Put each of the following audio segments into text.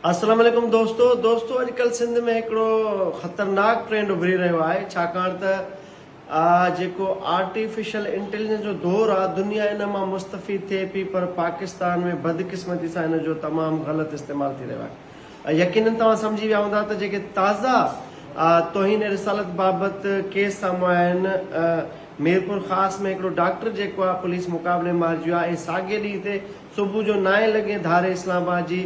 السلام عليڪم دوستو دوستو اڄڪلھ سنڌ ۾ هڪڙو خطرناڪ ٽرينڊ اڀري رهيو آهي ڇاڪاڻ ته جيڪو آرٽيفيشل انٽيليجنس جو دور آهي دنيا ان مان مستفيد ٿئي پي پر پاڪستان ۾ بدقسمتي سان ان جو تمام غلط استعمال ٿي رهيو آهي يقينن توهان سمجهي ويا هوندا ته جيڪي تازا توهين رسالت بابت ڪيس سامهون آيا آهن ميرپور خاص ۾ هڪڙو ڊاڪٽر جيڪو آهي پوليس مقابلي مارجيو آهي ۽ ساڳئي ڏينهن تي صبح جو نائين لڳي ڌاري اسلام آباد جي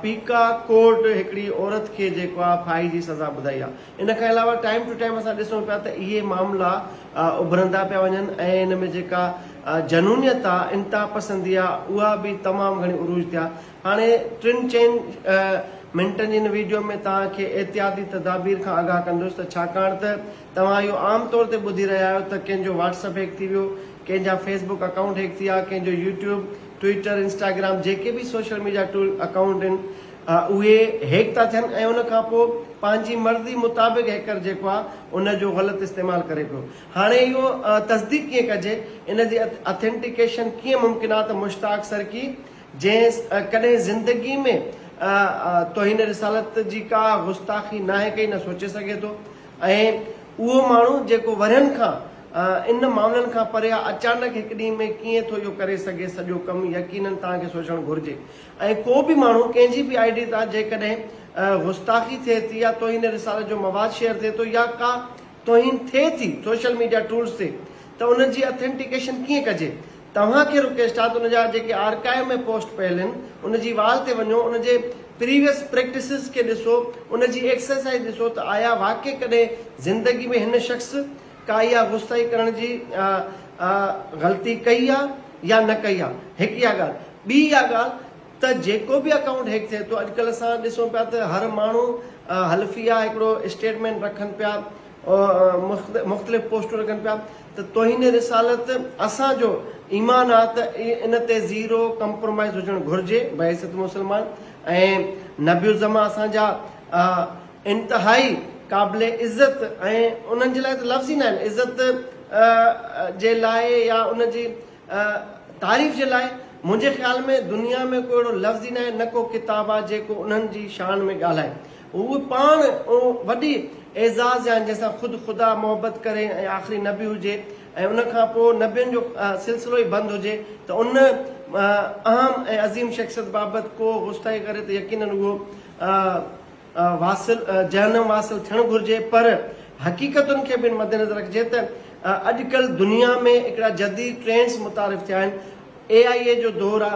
پيڪا ڪورٽ هڪڙي عورت کي جيڪو آهي ڦاهي جي سزا ٻڌائي آهي. ان کان علاوه ٽائيم ٽو ٽائيم اسان ڏسون پيا ته اهي معاملا اڀرندا پيا وڃن ۽ ان ۾ جيڪا جنونيت آهي، انتها پسندي آهي اها به تمام گهڻي عروج تي آهي. هاڻي ٽن چئن منٽن جي ان ويڊيو ۾ توهان کي احتياطي تدابير کان آگاهه ڪندس ته ڇاڪاڻ ته توهان اهو عام طور تي ٻڌي رهيا آهيو ته ڪنهن جو واٽس اپ هيڪ ٿي ويو، ڪنهن جا فيس بڪ اڪائونٽ هيڪ ٿيا، ڪنهن جو يوٽيوب، ٽوئيٽر، انسٽاگرام جيڪي به سوشل ميڊيا ٽول اڪائونٽ آهن اهي هيڪ ٿا ٿين ۽ ان کان پوء پنهنجي مرضي مطابق هيڪر جيڪو آهي ان جو غلط استعمال ڪري پيو. هاڻي اهو تصديق ڪيئن ڪجي، ان جي اٿينٽيڪيشن ڪيئن ممڪن آهي ته مشتاق سرڪي جنهن ڪڏهن زندگي ۾ توهين رسالت جي ڪا گستاخي ناهي ڪئي نه سوچي سگهي ٿو ۽ اهو ماڻهو جيڪو ورهين کان ان معاملن کان پري آ، اچانڪ هڪ ڏينهن ۾ ڪيئن ٿو اهو ڪري سگهي سڄو ڪم يقينن توهان کي سوچڻ گهرجي ۽ ڪو به ماڻهو ڪنهن جي به آئي ڊي تان جيڪڏهن گستاخي ٿئي ٿي يا توهين رسالت جو مواد شيئر ٿئي ٿو يا ڪا توهين ٿئي ٿي سوشل ميڊيا ٽولز تي ته ان جي اٿينٽيڪيشن ڪيئن ڪجي توهان کي رڪيسٽ آهي ته ان جا جيڪي آرڪائيو ۾ پوسٽ پيل آهن ان جي وال تي وڃو ان جي پريويس پريڪٽسز کي ڏسو ان جي ايڪسرسائيز ڏسو ته آيا واقعي ڪڏهن زندگي ۾ هن شخص ڪا اها غصائي ڪرڻ جي غلطي ڪئي آهي يا نه ڪئي آهي هڪ اها ڳالهه ٻي اها ڳالهه ته جيڪو به اڪائونٽ هيڪ ٿئي ٿو اڄ ڪلهه اسان ڏسون پيا ته هر ماڻهو حلفيه هڪڙو اسٽيٽمينٽ رکن پيا مختلف پوسٽون رکن پيا ته توهين رسالت اسان جو ايمان آ ته ان تي زيرو ڪمپرومائز هجڻ گهرجي بعثت مسلمان ۽ نبي الزمان اسان جا انتهائي قابل عزت ۽ انهن جي لاء ته لفظ ئي ناهن عزت جي لاء يا ان جي تعريف جي لاء منهنجي خيال ۾ دنيا ۾ ڪو اهڙو لفظ ئي ناهي نه ڪو ڪتاب آ جيڪو انهن جي شان ۾ ڳالهائي هو پاڻ وڏي اعزاز يعني جنهن سان خود خدا محبت ڪري ۽ آخري نبي هجي ۽ ان کان پوء نبين جو سلسلو ئي بند هجي ته ان اهم ۽ عظيم شخصيت بابت ڪو غوستائي ڪري ته يقينن اهو واصل جهنم واصل ٿيڻ گهرجي پر حقيقتن کي به ان مدنظر رکجي ته اڄ ڪلهه دنيا ۾ هڪڙا جديد ٽرينڊز متعارف ٿيا آهن اي آئي اي جو دور آ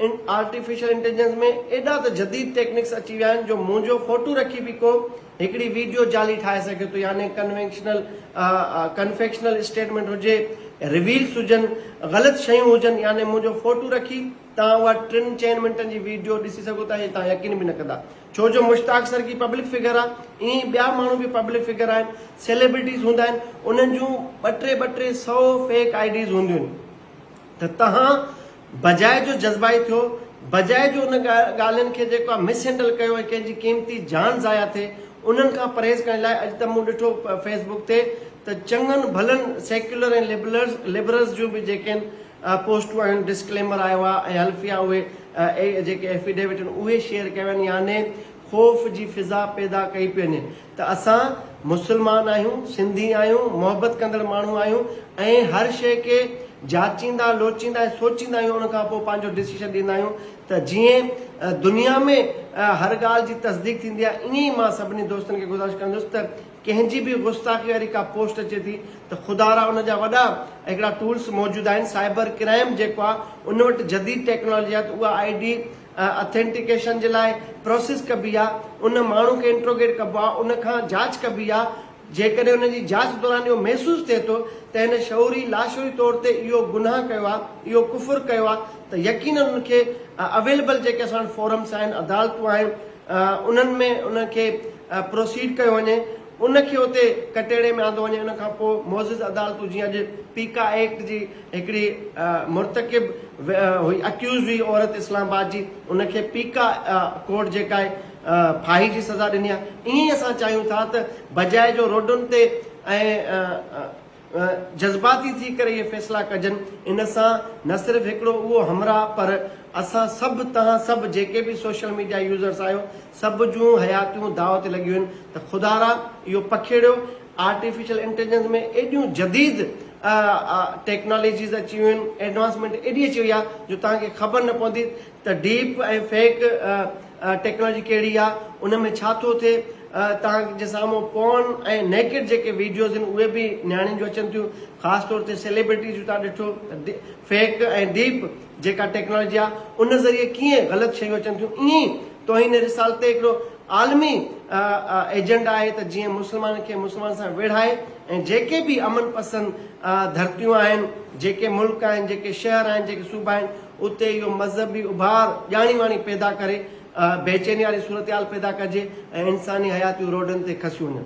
ان آرٽيفيشل انٽيليجنس ۾ ايڏا ته جديد ٽيڪنڪس اچي ويا آهن جو منهنجو فوٽو رکي به ڪو هڪڙي ويڊيو جعلي ٺاهي سگهي ٿو يعني ڪنوينشنل ڪنفيڪشنل اسٽيٽمينٽ هجي ريلز هجن غلط شيون هجن يعني منهنجو فوٽو رکي توهان اها ٽن چئن منٽن جي ويڊيو ڏسي سگهو ٿا هي توهان يقين به نه ڪندا ڇو جو مشتاق سرڪي پبلڪ فگر آ ائين ئي ٻيا ماڻهو به پبلڪ فگر آهن سيلبرٽيز هوندا آهن انهن جون ٻه ٽي ٻه ٽي سئو فيڪ آئي ڊيز هونديون آهن ته توهان بجاء جو جذبائي ٿيو، بجاء جو ان ڳالهين کي جيڪا مس هينڊل ڪيو ۽ ڪنهن جي قيمتي جان ضايع ٿئي انهن کان پرهيز ڪرڻ لاء اڄ ته مون ڏٺو فيس بڪ تي ته چڱن ڀلن سيڪيولر ۽ لبرلز جون به جيڪين پوسٽون آهن ڊسڪليمر آيو آهي ۽ حلفيا اهي جيڪي ايفيڊيوٽ آهن اهي شيئر ڪيا ويا آهن يعني خوف جي فضا پيدا ڪئي پئي وڃي ته اسان مسلمان آهيون، سنڌي آهيون، محبت ڪندڙ ماڻهو آهيون ۽ هر شيء کي جاچيندا، لوچيندا ۽ سوچيندا آهيون ان کان پوء پنهنجو ڊسيشن ڏيندا آهيون ته جيئن دنيا ۾ هر ڳالهه جي تصديق ٿيندي آهي ائين ئي مان سڀني دوستن کي گذارش ڪندس ته ڪنهن جي به گستاخي واري ڪا پوسٽ اچي ٿي ته خدا را ان جا وڏا هڪڙا ٽولس موجود آهن سائبر ڪرائم جيڪو آهي ان وٽ جديد ٽيڪنالاجي آهي ته اها آئي ڊي اٿينٽيڪيشن جي لاء پروسيس ڪبي آ، ان ماڻهو کي انٽروگيٽ ڪبو آ، ان کان جاچ ڪبي آ، جيڪڏهن ان جي جاچ دوران اهو محسوس ٿئي ٿو ته هن شعوري لاشعوري طور تي اهو گناهه ڪيو آ، اهو ڪفر ڪيو آ ته يقينن ان کي اويليبل جيڪي اسان وٽ فورمس آهن، عدالتون آهن، انهن ۾ ان کي پروسيڊ ڪيو وڃي، ان کي اتي ڪٽهڙي ۾ آندو وڃي، ان کان پوء معزز عدالتون جيئن اڄ پيڪا ايڪٽ جي هڪڙي مرتڪب هئي اڪيوزڊ هئي عورت اسلام آباد جي ان کي پيڪا ڪورٽ جيڪا آهي ڦاهي جي سزا ڏني آهي ائين ئي اسان چاهيون ٿا ته بجاء جو روڊن تي ۽ جذباتي ٿي ڪري اهي فيصلا ڪجن ان سان نه صرف هڪڙو اهو همراهه پر اسان سڀ توهان سڀ جيڪي به سوشل ميڊيا يوزرس آهيو سڀ جون حياتيون داء تي لڳيون آهن ته خدارا اهو پکيڙيو آرٽيفيشل انٽيليجنس ۾ ايڏيون جديد ٽيڪناليجيز اچي ويون آهن ايڊوانسمينٽ ايڏي اچي وئي آهي جو توهان کي خبر نه پوندي ته ڊيپ ۽ فيڪ ٽيڪناليجي ڪهڙي آهي ان ۾ ڇا ٿو ٿئي توهان جي سامهون پورن ۽ نيڪڊ جيڪي ويڊيوز آهن اهي به نياڻين جون اچن ٿيون خاص طور تي سيليبرٽيز جون توهان ڏٺو ته فيڪ ۽ ڊيپ جيڪا ٽيڪناليجي آهي ان ذريعي ڪيئن غلط شيون اچن ٿيون ائين ئي توهين رسالت تي هڪڙو عالمي ايجنڊا آهي ته جيئن مسلمان کي مسلمان سان ويڙهائي ۽ جيڪي به امن پسند ڌرتيون آهن، جيڪي ملڪ آهن، جيڪي شهر آهن، جيڪي صوبا آهن اتي اهو مذهبي اڀار ڄاڻي واڻي پيدا ڪري بيچيني واري صورتحال پيدا ڪجي ۽ انساني حياتيون روڊن تي کسيون وڃن.